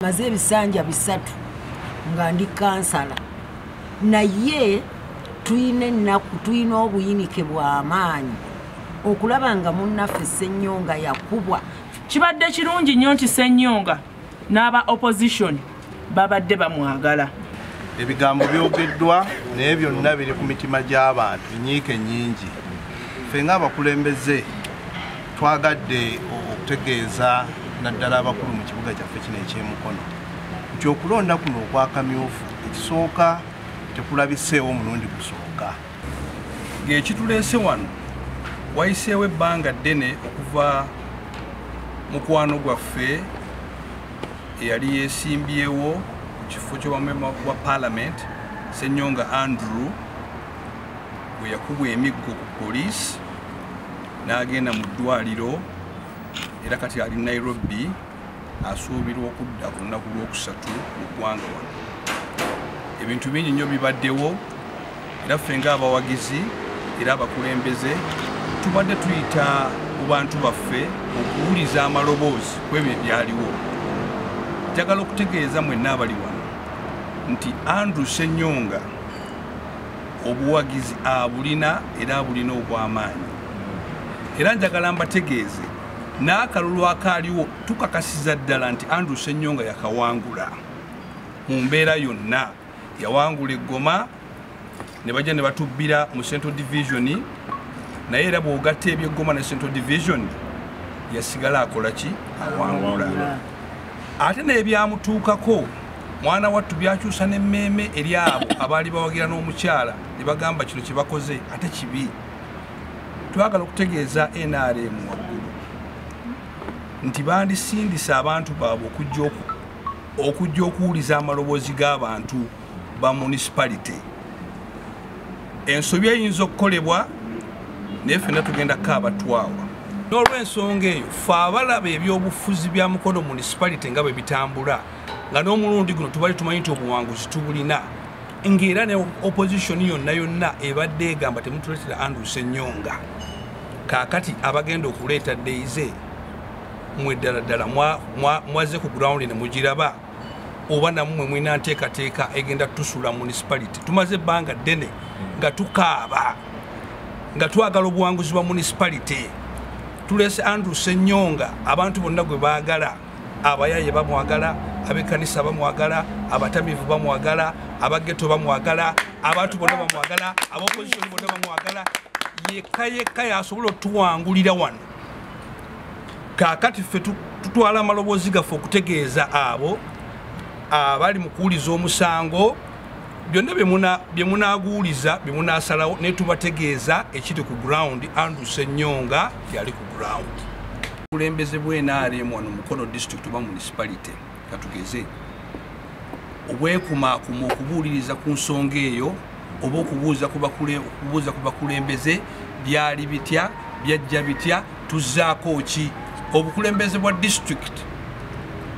maze ebisanja bisatu nga ndi kansala naye tulina ennaku tulina obuyinike bw'amaanyi okulaba nga munnaffe ssennyonga yakubwa kibadde kirungi nnyo nti ssennyonga n'aba opposition babadde bamwagala ebigambo byogeddwa naye byonna biri ku mitima gy'abantu nyiike nnyingi ffe ng'abakulembeze Twagadde okutegeeza naddala abakulu mu kibuga kyaffe kino ekyemukono nti okulonda kuno okwakamyufu ekisooka tekulabiseewo omulundi gusooka ng'ekituleese wano wayiseewo ebbanga ddene okuva mukwano gwaffe eyali yesimbyewo ku kifo ky'obwamema bwa palamenti senyonga andrew bwe yakubwa emiggo ku poliisi n'agenda mu ddwaliro era kati ali nairobi asuubirwa okudda ku lunaku lwokusatu mu ggwanga wano ebintu bingi nnyo bibaddewo era ffe ngaabawagizi era abakulembeze tubadde tuyita mu bantu baffe okuwuliza amaloboozi ku ebyo ebyaliwo njagala okutegeeza mwenna abali wano nti andrew senyonga obuwagizi abulina era abulina obw'amaanyi era njagala mbategeeze n'akalulu akaaliwo tukakasiza ddala nti andrew senyonga yakawangula mu mbeera yonna yawangula eggoma ne bajja ne batubbira mu central division naye era bw'ogatta ebyeggoma ne central division yasigala akola ki awangula ate n'ebyamutuukako mwana wattu byakyusa n'emmeeme eri abo abaali bawagira n'omukyala ne bagamba kino kye bakoze ate kibi twagala okutegeeza nrm waggulu nti bandisindisa abantu baabwe okujja okuwuliza amaloboozi g'abantu ba municipality ensobi eyinza okukolebwa naye fena tugenda kaabatwawa n'olwensonga eyo fe abalaba ebyobufuzi bya mukono municipality nga bwe bitambula nga n'omulundi guno tubali tumanyi nti obuwanguzi tubulina ng'era ne opposition yonna yonna ebadde egamba temutuletera andus ennyonga kaakati abagenda okuleeta deyize mwe ddala ddala mwaze ku ground ne mugiraba oba namumwe mulina nteekateeka egenda tusula municipality tumaze ebbanga ddene nga tukaaba nga twagala obuwanguzi bwa municipality tulese andrew senyonga abantu bonna gwe baagala abayaye bamwagala abekanisa bamwagala abatamivu bamwagala abageto bamwagala abantu bonna bamwagala abopozisoni bonna bamwagala yekka yekka yasobola otuwangulira wano kaakati ffe tutwala amaloboozi gaffe okutegeeza abo abali mu kuwuliza omusango byonna bye munaaguwuliza bye munaasalawo naye tubategeeza ekiri ku ground andrew senyonga yali ku ground obukulembeze bw'enaaremu wano mukono district oba municipality katugeze obwekumaakuma okubuuliriza ku nsonga eyo oba okubuuza ku bakulembeze byali bitya byajja bitya tuzzaako ki obukulembeze bwa disitulikiti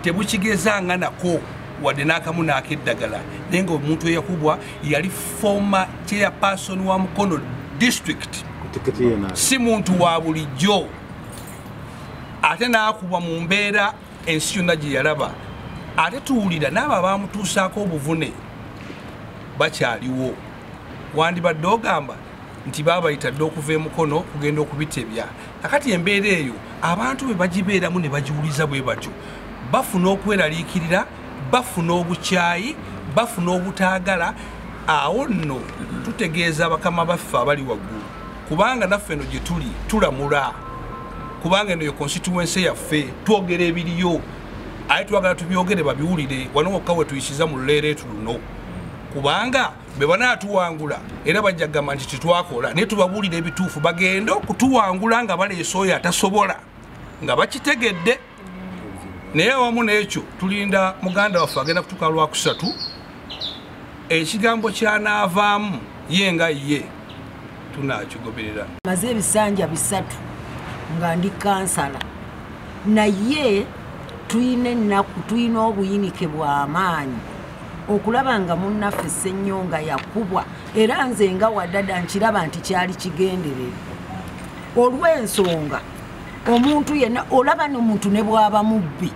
tebukigezanga nako wadde n'akamu naako eddagala naye nga omuntu eyakubwa yali foma chairperson wa mukono disitulikiti si muntu wa bulijjo ate n'akubwa mu mbeera ensi yonna gye yalaba ate tuwulira n'abo abaamutuusaako obuvune bakyaliwo wandibadde ogamba nti baabayita dde okuva emukono okugenda okubitebya akati embeera eyo abantu be bagibeeramu ne bagiwuliza bwe batyo bafuna okweraliikirira bafuna obukyayi bafuna obutaagala awo nno tutegeeza bakama baffe abali waggulu kubanga naffe eno gyetuli tulamula kubanga eno yo constituency yaffe twogera ebiriyo aye twagala tubyogere babiwulire wano wokka wetuyisiza mu luleeretu luno kubanga bebanatuwangula era bajja kugamba nti tetwakola naye tubabuulira ebituufu bagende okutuwangula nga baleesa oyo atasobola nga bakitegedde naye awamu n'ekyo tulinda muganda waffe agenda kutuuka lwakusatu ekigambo kyanaavaamu ye nga ye tunakigoberera maze ebisanja bisatu nga ndi kansala naye tulina ennaku tulina obuyinike bw'amaanyi okulaba nga munnaffe ssennyonga yakubwa era nze nga wadada nkiraba nti kyali kigenderere olw'ensonga omuntu yena olaba nomuntu nebwaba mubbi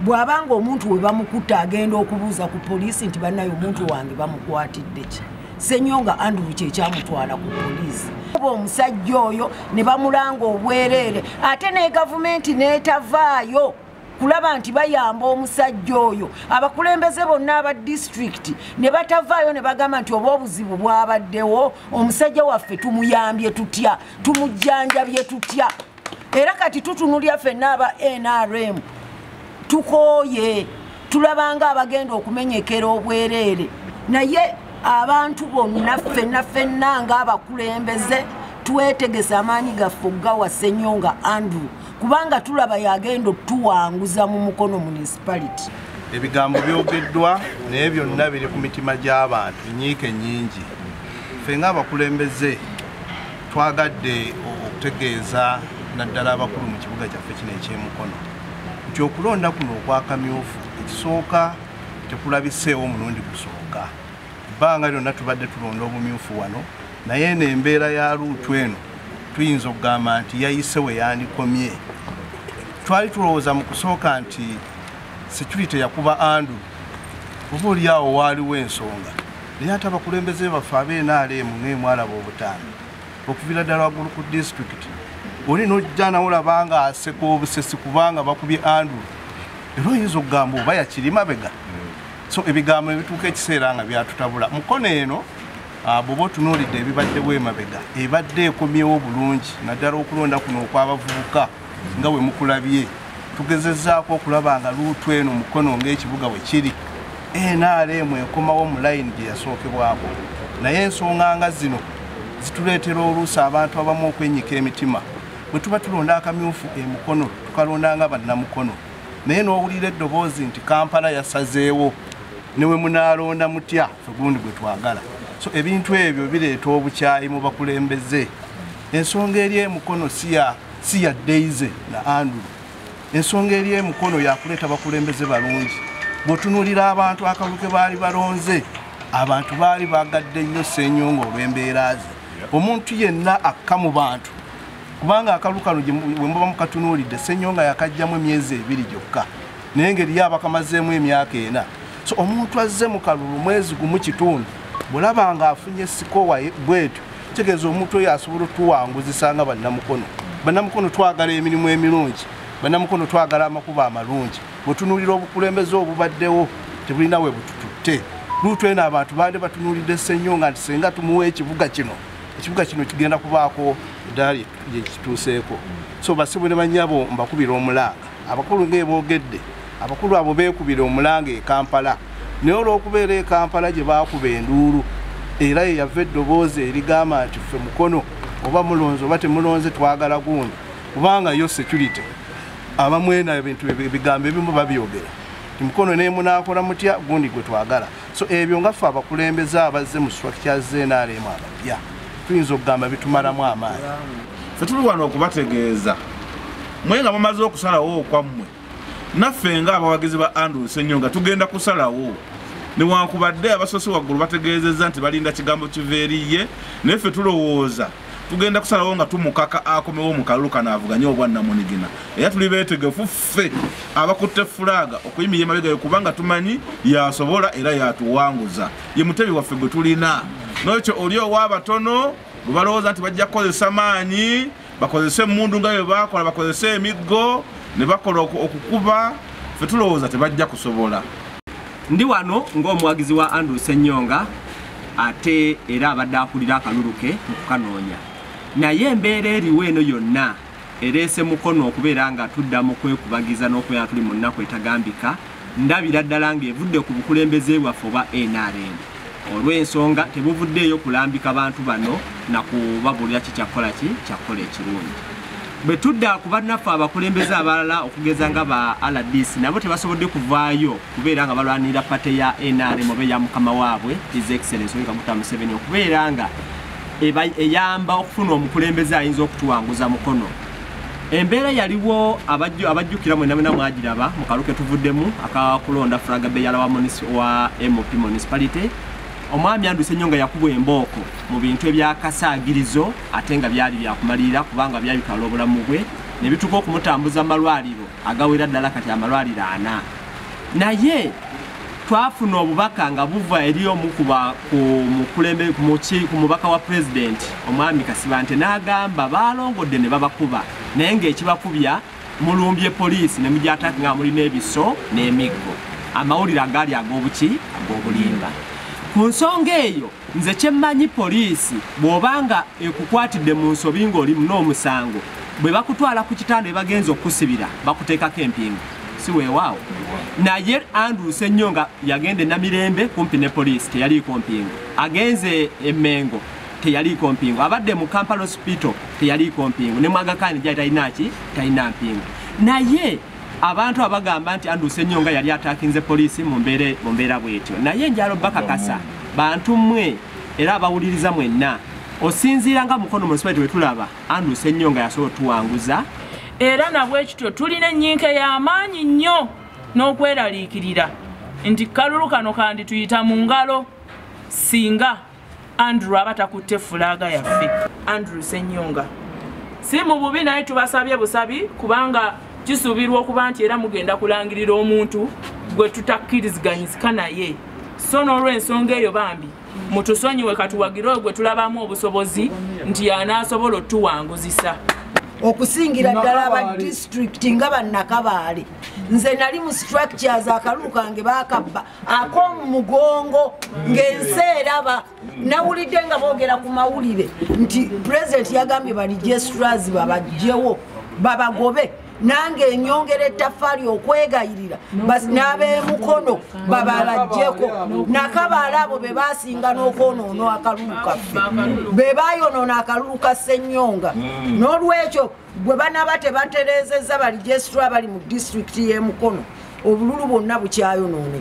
bwaba nga omuntu webamukutta agenda okubuuza ku poliisi nti banaye omuntu wange bamukwatidde ki senyo nga andrew kyekyamutwala ku poliisi oba omusajja oyo ne bamulanga obwereere ate ne gavumenti netavaayo kulaba nti bayamba omusajja oyo abakulembeze bonna aba disitulikiti ne batavaayo ne bagamba nti oba obuzibu bwabaddewo omusajja waffe tumuyambye tutya tumujjanjabye tutya era kati tutunulya fenna aba nrm tukooye tulabanga abagenda okumenyekera obwereere naye abantu bonna fenna fenna ngaabakulembeze twetegese amaanyi gaffe okugawa senyonga andrew kubanga tulaba yagenda otuwanguza mu mukono municipality ebigambo byogeddwa naye byonna biri ku mitima gy'abantu nyiike nyingi ffe ngaabakulembeze twagadde okutegeeza naddala abakulu mu kibuga kyaffe kino ekyemukono nti okulonda kuno okwakamyufu ekisooka tekulabiseewo omulundi gusooka ebbanga lyonna tubadde tulonda obumyufu wano naye eno embeera ya luutu eno tuyinza okugamba nti yayise we yandikomye twali tulowooza mu kusooka nti security yakuba andu oba olyawo waaliwo ensonga naye ate abakulembeze baffe abeenaaleemu ngaemwalaba obutambi okuviira ddala waggulu ku disitulikiti oli nojja nawe olaba nga aseka obusesi kubanga bakubye andu era oyinza okugamba oba yakiri mabega so ebigambo ebituuka ekiseera nga byatutabula mukono eno ah, bwoba otunuulidde ebibaddewo emabega ebadde ekomyewo bulungi naddala okulonda kuno okwabavubuka nga we mukulabye tugezezaako okulaba nga luutu eno mukono ngaekibuga we kiri nrm ekomawo mu layini gye yasookebwako naye ensonga nga zino zituleetera oluusi abantu abamu okwenyika emitima bwe tuba tulonda akamyufu emukono tukalonda nga bannamukono naye n'owulira eddoboozi nti kampala yasazeewo newe munaalonda mutya fegundi gwe twagala so ebintu ebyo bireeta obukyayi mu bakulembeze ensonga eri emukono siya siya deize na andrew ensonga eri emukono yakuleeta bakulembeze balungi bwotunuulira abantu akalulu ke baali balonze abantu baali bagadde nnyo senyonga olw'embeera ze omuntu yenna akka mu bantu kubanga akalu kano wemuba mukatunuulidde senyonga yakajjamu emyezi ebiri gyokka naye ngeri ye abakamazeemu emyaka ena so omuntu azze mu kalulu mwezi gumu kitundu bulaba nga afunye sikowa bwetyo kitegeeza omuntu oyo asobola otuwanguzisa nga bannamukono bannamukono twagala emirimu emirungi bannamukono twagala amakubo amalungi bwetunuulira obukulembeze obubaddewo tebulina we butututte luutu eno abantu baali batunuulidde senyo nga nti senga tumuwa ekibuga kino ekibuga kino kigenda kubaako eddaali lyekituuseeko so basibu ne banyabo mbakubira omulanga abakulu ngaeboogedde abakulu abo beekubira omulanga e kampala naye olw'okubeera e kampala gye baakuba enduulu era ye yava eddoboozi erigamba nti ffe mukono oba mulonze oba temulonze twagala gundi kubanga yo security abamwena ebintu ebigambo ebimu babyogera mukono nemunakola mutya gundi gwe twagala so ebyo nga ffe abakulembeze abazze mu structure znrm abapya tuyinza okugamba bitumalamu amaanyi fe tuli wano okubategeeza mwe nga mumaze okusalawo okwammwe naffe nga abawagizi ba andrew senyo nga tugenda kusalawo newankubadde abasosi waggulu bategeezezza nti balinda kigambo kiva eriye naye ffe tulowooza tugenda kusalawo nga tumukaka akomewo mu kalulu kano avuganye obwannamunigina era tuli beetegefu ffe abakutte fulaaga okuyimira emabegayo kubanga tumanyi yasobola era yatuwanguza ye mutebi waffe gwe tulina nokyo oli ow'abatono bwe balowooza nti bajja kukozesa maanyi bakozese emundu nga bye bakola bakozese emiggo ne bakola okukuba fe tulowooza tebajja kusobola ndi wano ng'omuwagizi wa andrew senyonga ate era abadde akulira akalulu ke mu kukanoonya naye embeera eriwo eno yonna ereese mukono okubeera nga tudda mu kwekubagiza n'okubeera tuli mu nnaku etagambika ndabira ddala ng'evudde ku bukulembeze bwaffe oba nrm olw'ensonga tebuvuddeeyo kulambika bantu bano na kubabuulira ki kyakkola ki kyakkola ekirungi bwe tudda ku bannaffe abakulembeze abalala okugeza nga ba rdc nabo tebasobodde kuvaayo kubeera nga balwanirira pate ya nrm oba eya mukama waabwe his excellence oyo kaguta museveni okubeera nga eyamba okufuna omukulembeze ayinza okutuwanguza mukono embeera yaliwo abajjukira mwena mwena mwagiraba mu kalu ketuvuddemu akakulonda fraga beyala wa mop municipality omwami anduse nnyo nga yakubwa embooko mu bintu ebyakasaagirizo ate nga byali byakumalirira kubanga byabitwala obulamu bwe ne bituuka okumutambuza mu malwaliro agawera ddala kati amalwaliro ana naye twafuna obubaka nga buva eri omu kumukulembe ku mubaka wa pulezidenti omwami kasibante n'agamba balongodde ne babakuba naye ng'ekibakubya mulumbye poliisi ne mugyataka nga mulina ebiso n'emiggo amawulire agaali ag'obuki ag'obulimba ku nsonga eyo Nze kyemmanyi poliisi bw'oba nga ekukwatidde mu nsobi ng'oli n'omusango bwe bakutwala ku kitanda bye bagenza okukusibira bakuteekako empingu si weewaawo naye anduuse nnyo nga yagenda enamirembe kumpi ne poliisi teyaliiko mpingu agenze emengo teyaliiko mpingu abadde mu kampala hospital teyaliiko mpingu ne mwagakaani gyali talina ki talina mpingu naye abantu abagamba nti andrew senyonga yali atakinze poliisi mu mbeera bwetyo naye njalo bakakasa bantu mmwe era abawuliriza mwenna osinziira nga mukono munisipaliti wetulaba andrew senyonga yasobola otuwanguza era nabwekityo tulina ennyinka y'amaanyi nnyo n'okweraliikirira nti kalulu kano kandituyita mu ngalo singa andrew aba takutte fulaaga yaffe andrew senyonga si mu bubi naye tubasabye busabi kubanga kisuubirwa okuba nti era mugenda kulangirira omuntu gwe tutakkiriziganyizika naye so n'olwensonga eyo bambi mutusonyiwe katuwagire oyo gwe tulabamu obusobozi nti yanaasobola otuwanguzisa okusingira ddala aba disitulikiti nga bannakabaale nze nali mu structures akalulu kange bakabba akomu mugongo ng'ensi eraba nawulidde nga boogera ku mawulire nti pulezidenti yagambye bali jesurazi babajjewo babagobe nange enyongera ettafaali okwegayirira n'abemukono babalajjeko nakabaala abo be basinga n'okwonoona akalulu kaffe be bayonoona akalulu ka ssenyonga hmm. n'olwekyo bwe banaba tebatereezezza bali jesitula bali mu disitulikiti y'emukono obululu bwonna bukyayonooneka